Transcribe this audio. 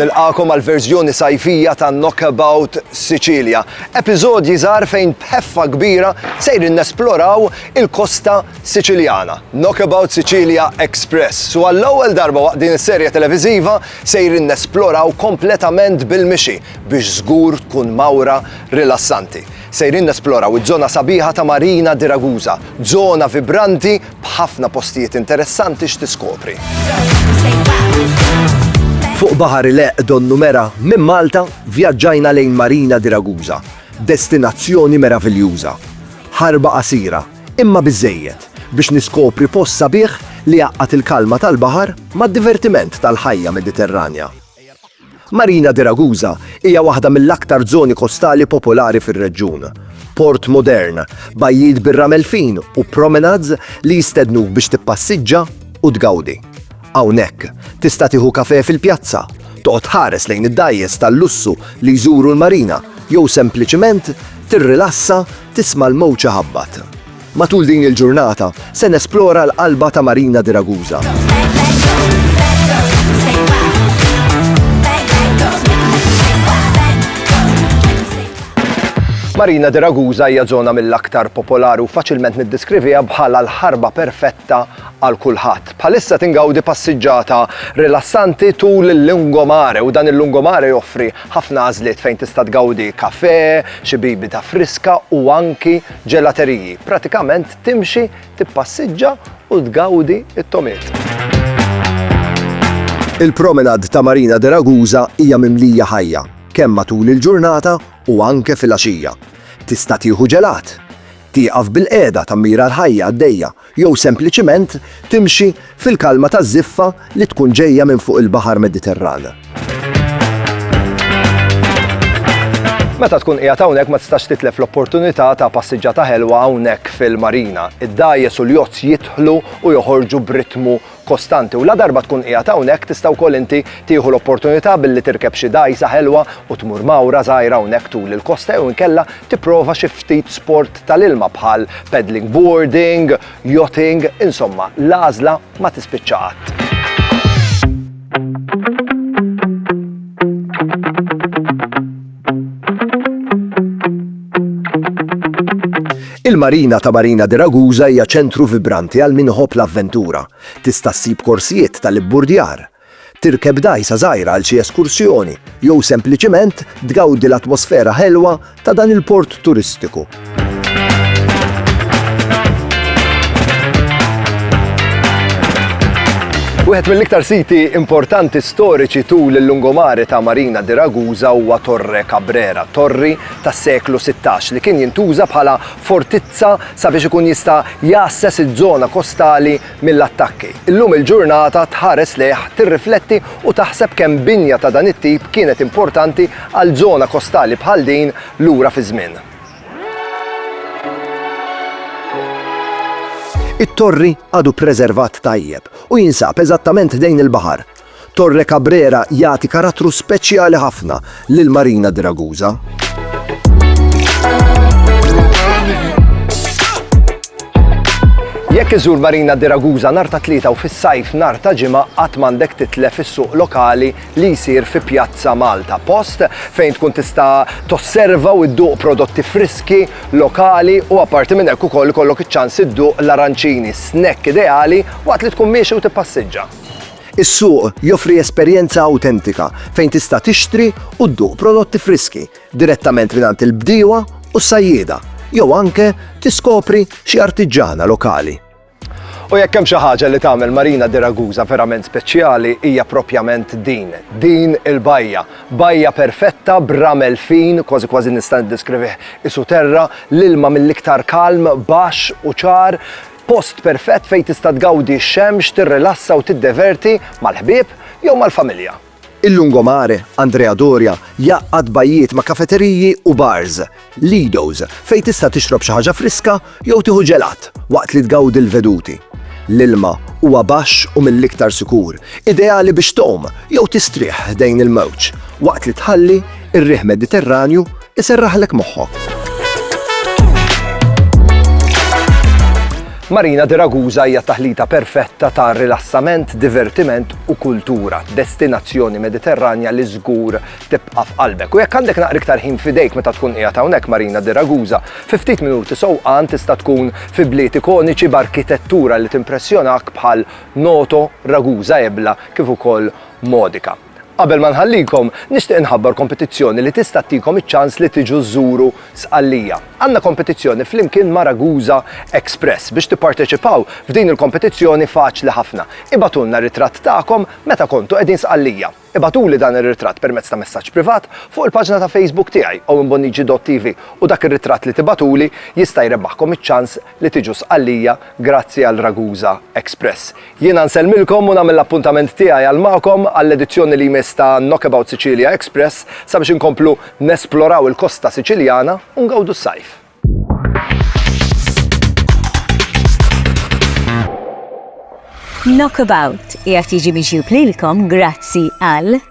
Nilqakom għal verżjoni sajfija ta' Knockabout Sicilia. Episodji żgħar fejn bħeffa kbira sejrin nesploraw il-kosta Siċiljana, Knockabout Sicilia Express, u għall-ewwel darba waqt din is-serje televiżiva sejrin nesploraw kompletament bil-mixi biex żgur tkun mawra rilassanti. Sejrin nesploraw iż-żona sabiħa ta' Marina di Ragusa, żona vibranti b'ħafna postijiet interessanti x'tiskopri. Fuq baħar ileqq donnu mera minn Malta vjaġġajna lejn Marina di Ragusa, destinazzjoni meraviljuża. Ħarba qasira, Imma biżżejjed biex niskopri post sabiħ li jgħaqqad il-kalma tal-baħar mad-divertiment tal-ħajja Mediterranja. Marina di Ragusa hija waħda mill-aktar żoni kostali popolari fir-reġjun. Port modern, bajjiet bir-ramel fin u promenades li jistednuk biex tippassiġġa u tgawdi. Hawnhekk, tista' tieħu kafè fil-pjazza, toqgħod tħares lejn id-dgħajjes tal-lussu li jżuru l-marina jew sempliċement tirrilassa tisma' l-mowġ iħabbat. Matul din il-ġurnata, se nesplora l-qalba ta' Marina di Ragusa. Marina di Ragusa hija żona mill-aktar popolari u faċilment niddeskriviha bħala l-ħarba perfetta għal kulħadd. Bħalissa tingawdi passiġġata rilassanti tul il-lungomare u dan il-lungomare joffri ħafna għażliet fejn tista' tgawdi kafè, xi bibita friska u anki ġelateriji. Pratikament timxi, tippassiġġa u tgawdi t-tomiet. Il-promenade ta' Marina de Ragusa hija mimlija ħajja kemm matul il-ġurnata u anke filgħaxija. Tista' tieħu ġelat, tieqaf bilqiegħda tammira l-ħajja għaddejja jew sempliċiment timxi fil-kalma taż-żiffa li tkun ġejja minn fuq il-Baħar Mediterran. Meta tkun qiegħed hawnhekk ma tistax titlef l-opportunità ta' passiġġata ħelwa hawnhekk fil-marina. Id-dgħajjes u l-jozz jidħlu u joħorġu b'ritmu kostanti u ladarba tkun qiegħed hawnhekk tista' wkoll inti tieħu l-opportunità billi tirkeb xi dgħajsa ħelwa u tmur mgħawra żgħira hawnhekk tul il-kosta jew inkella tipprova xi ftit sport tal-ilma bħal paddling boarding, yachting, insomma l-għażla ma tispiċċa qatt. Il-Marina ta' Marina di Ragusa hija ċentru vibranti għal min iħobb l-avventura. Tista' ssib korsijiet tal-ibburdjar, tirkeb dgħajsa żgħira għal xi eskursjoni, jew sempliċiment tgawdi l-atmosfera ħelwa ta' dan il-port turistiku. Wieħed mill-iktar siti importanti storiċi tul il-lungomare ta' Marina di Ragusa huwa Torre Cabrera, torri tas-seklu 16 li kien jintuża bħala fortizza sabiex ikun jista' jassess iż-żona kostali mill-attakki. Illum il-ġurnata tħares lejh tirrifletti u taħseb kemm binja ta' dan it-tip kienet importanti għal żona kostali bħal din lura fi żmien. It-Torri għadu preservat tajjeb u jinsab eżattament ħdejn il-baħar. Torre Cabrera jagħti karattru speċjali ħafna lill-Marina di Ragusa. Jekk iżur Marina di Ragusa nhar ta' tlieta u fis-sajf nhar ta' ġimgħa qatt m'għandek titlef is-suq lokali li jsir fi Pjazza Malta Post fejn tkun tista' tosserva u dduq prodotti friski, lokali u apparti minn hekk ukoll ikollok iċ-ċans idduq l-aranċini, snack ideali waqt li tkun miexi u tippassiġġa. Is-suq joffri esperjenza awtentika fejn tista' tixtri u dduq prodotti friski direttament mingħand il-bdiewa u s-sajjieda jew anke tiskopri xi artiġġana lokali. U jekk hemm xi ħaġa li tagħmel Marina di Ragusa verament speċjali hija proprjament din, din il-bajja. Bajja perfetta b'ramel fin, kważi kważi nista' niddeskrivih qisu terra, l-ilma mill-iktar kalm, baxx u ċar, post perfett fejn tista' tgawdi x-xemx, tirrilassa u tiddeverti mal-ħbieb jew mal-familja. Il-Lungomare, Andrea Doria, jgħaqqad bajjiet ma' kafeteriji u bars, Lido's, fejn tista' tixrob xi ħaġa friska jew tieħu ġelat waqt li tgawdi l-veduti. L-ilma huwa baxx u mill-iktar sikur, ideali biex tgħum jew tistrieħ ħdejn il-mewġ waqt li tħalli r-riħ Mediterranju Iserraħlek moħħok! Marina di Ragusa hija taħlita perfetta ta' rilassament, divertiment u kultura, destinazzjoni Mediterranja li żgur tibqa' f'qalbek. U jekk għandek naqri iktar ħin fidejk meta tkun qiegħed hawnhekk Marina di Ragusa, fi ftit minuti sewqan tista' tkun fi bliet ikoniċi b'arkitettura li timpressjonak bħal Noto, Ragusa Ebla kif ukoll Modica. Qabel ma nħallikom, nixtieq inħabbar kompetizzjoni li tista' ttikom iċ-ċans li tiġu żżuru Sqallija. Għandna kompetizzjoni flimkien ma' Ragusa Express. Biex tipparteċipaw f'din il-kompetizzjoni faċli ħafna. Ibgħatulna ritratt tagħkom meta kontu qegħdin Sqallija. Ibgħatuli dan ir-ritratt permezz ta' messaġġ privat fuq il-paġna ta' Facebook tiegħi owenbonnici.tv u dak ir-ritratt li tibgħatuli jista' jrebbaħkom iċ-ċans li tiġu Sqallija grazzi għal Ragusa Express. Jiena nsellmilkom u nagħmel l-appuntament tiegħi għal magħkom għall-edizzjoni li jmiss ta' Knockabout Sicilia Express sabiex inkomplu nesploraw il-kosta Siċiljana u ngawdu s-sajf. Knockabout qiegħed jiġi miġjub lilkom grazzi għal.